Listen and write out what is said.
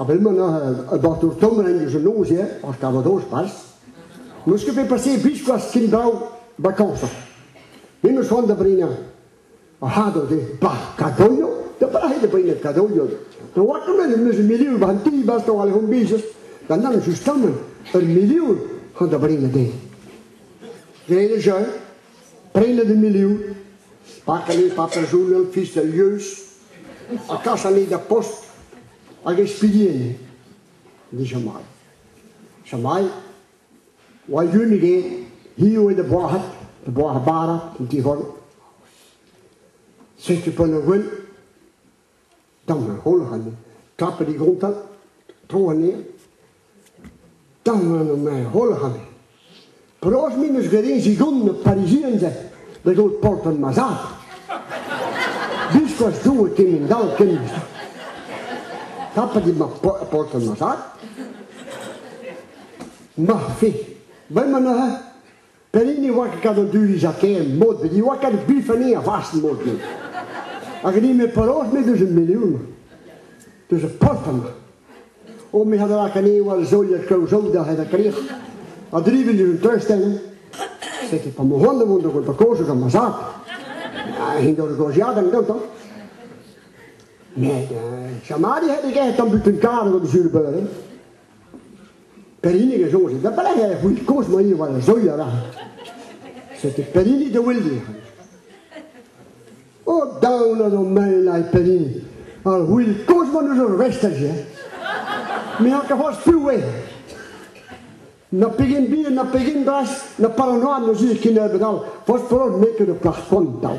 A wenn man a bart ur tonrenn eus an noz-se, ar Calvados pas, meus ket bet paseet biskoazh ken brav bakañsañ. Me meus c'hoant da brenañ ar c'hador de ba Kadoio, da brahe da brenañ Kadoio. Da watermen em eus un milion war an ti, bas da oal hon bizes, da nann just kamen ur milion c'han da brenañ den. Gen e jeu, Prenet eme eo, pak ane patajoun an fis al lieuz, ha kas ane da post hag e spilien. Di Jamai. Jamai, oa yunig e, hi oe da boac'hat, da boac'h bara, an ti-hon. Setu pan a gwen, Tamm holl anezhe. Tapet e gontad, tro anezhe. Tamm anezhe holl anezhe. Penaos m'en deus graet eñ zigont ur Parisien se da gaout poltred ma zad? Biskoazh Doue kemend-all ken. Tapet eo ma poltred ma zad. Ma fe. Vel ma neuze? Pellin ne oa ket gant o duz ha ken mod, ne oa ket bifenniñ a vast mod. Hag ni me penaos me deus un milion, deus ur post amañ. O me hadala kane wal zoliet klev zo da hed a krir, a drivin deus un trestenn, setu pa mo hon da vont da gout pa kozh gant ma zad. Ha hen da goziadenn gantañ. Met uh, chamadi he deget an but un kar gant zul beuren. Pellini a soñje da belec'h e c'hount kozh-maii war ar soilh avat. Setu Pellini da welediñ. O daon an hon mael a Pellini. Ar c'hwil kozh-man eus hor vestal se. Me an kafoz piv eo. Na pegen bihan, na pegen bras, na paranoad na zud kennebeut all. Fospolod n'eo ket ur plac'h spontañ.